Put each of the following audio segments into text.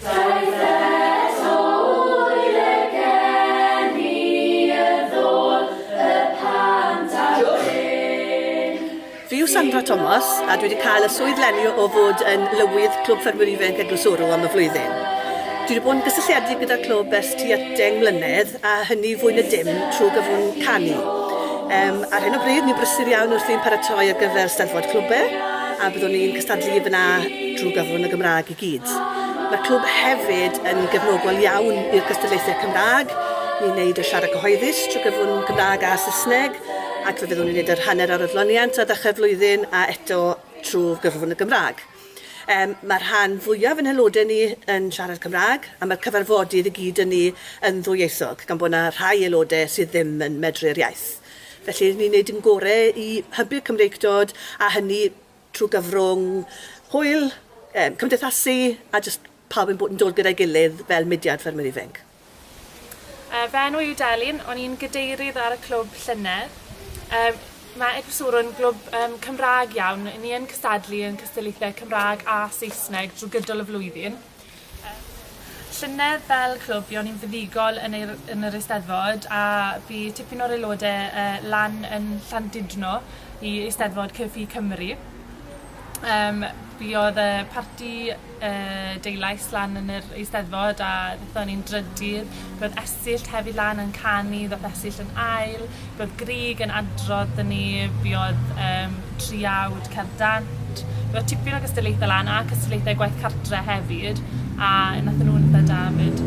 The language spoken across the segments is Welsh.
Fi yw Sandra Tomos a dwi wedi cael y swydd leni o fod yn Lywydd Clwb Ffermwyr Ifainc Eglwys Wrw am y flwyddyn. Dwi wedi bod yn gysylltiedig gyda'r clwb ers tua deng mlynedd a hynny fwy na dim trwy gyfrwng canu. Yym, ar hyn o bryd ni'n brysur iawn wrthi'n paratoi ar gyfer Steddfod Clwbe a byddwn ni'n cystadlu i f'na drwy gyfrwng y Gymraeg. gyd. Mae'r clwb hefyd yn gefnogol iawn i'r gystadlaethau Cymraeg. Ni'n gwneud y siarad cyhoeddus trwy gyfrwng Gymraeg a Saesneg ac fe fyddwn ni'n gwneud yr hanner ar adloniant ar ddechrau'r flwyddyn a eto trwy gyfrwng y Gymraeg. Um, mae'r rhan fwyaf yn haelodau ni yn siarad Cymraeg a mae'r cyfarfodydd i gyd yn ni yn ddwyieithog gan bod yna rhai aelodau sydd ddim yn medru'r iaith. Felly ni'n gwneud yn gorau i hybu'r Cymreictod a hynny trwy gyfrwng hwyl, yym, cymdeithasu a jyst pawb yn bod yn dod gyda'i gilydd fel mudiad Ffermwyr Ifainc. Yy, fy enw yw Delyn, o'n i'n gadeirydd ar y clwb llynedd. Yym, ma' Eglwyswrw'n glwb yym Cymraeg iawn, 'yn ni yn cystadlu yn cystadlaethau Cymraeg a Saesneg drwy gydol y flwyddyn. Llynedd fel clwb buon ni'n fuddugol yn ei- yn yr Eisteddfod a bu tipyn o'r aelode yy lan yn Llandudno i Eisteddfod Cyrff-u Cymru. Yym fi odd y parti yy deulais lan yn yr Eisteddfod a nethon ni'n drydydd Roedd Esyllt hefyd lan yn canu, ddoth Esyllt yn ail, roedd Grug yn adrodd 'da ni, fuodd yym triawd cerdd dant, roedd tipyn o gystadlaethau lan a cystadlaethau gwaith cartre hefyd a nathon nhw'n itha da 'fyd.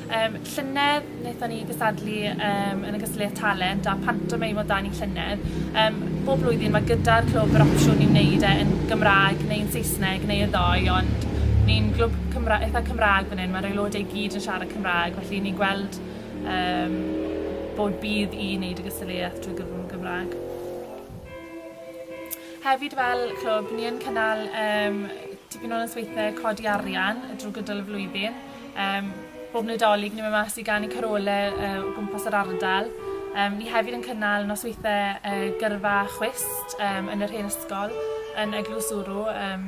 Yym llynedd naethon ni gystadlu yym yn y gystadleuaeth talent a pantomeim o dan y llynedd yym bob blwyddyn ma' gyda'r clwb yr opsiwn i wneud e yn Gymraeg neu'n Saesneg neu y ddou ond ni'n glwb Cymra- itha Cymraeg Fan hyn mae'r aelodau i gyd yn siarad Cymraeg, felly ni'n gweld um, bod bydd i wneud y gystadleuaeth drwy gyfrwng Gymraeg. Hefyd fel clwb, ni yn cynnal um, tipyn o nosweithiau codi arian drwy gydol y flwyddyn. Um, bob Nadolig ni'n mynd mas i gan i carolau uh, o gwmpas yr ardal. Um, ni hefyd yn cynnal nosweithiau uh, gyrfa chwist um, yn yr hen ysgol yn Eglwys Wrw. Um,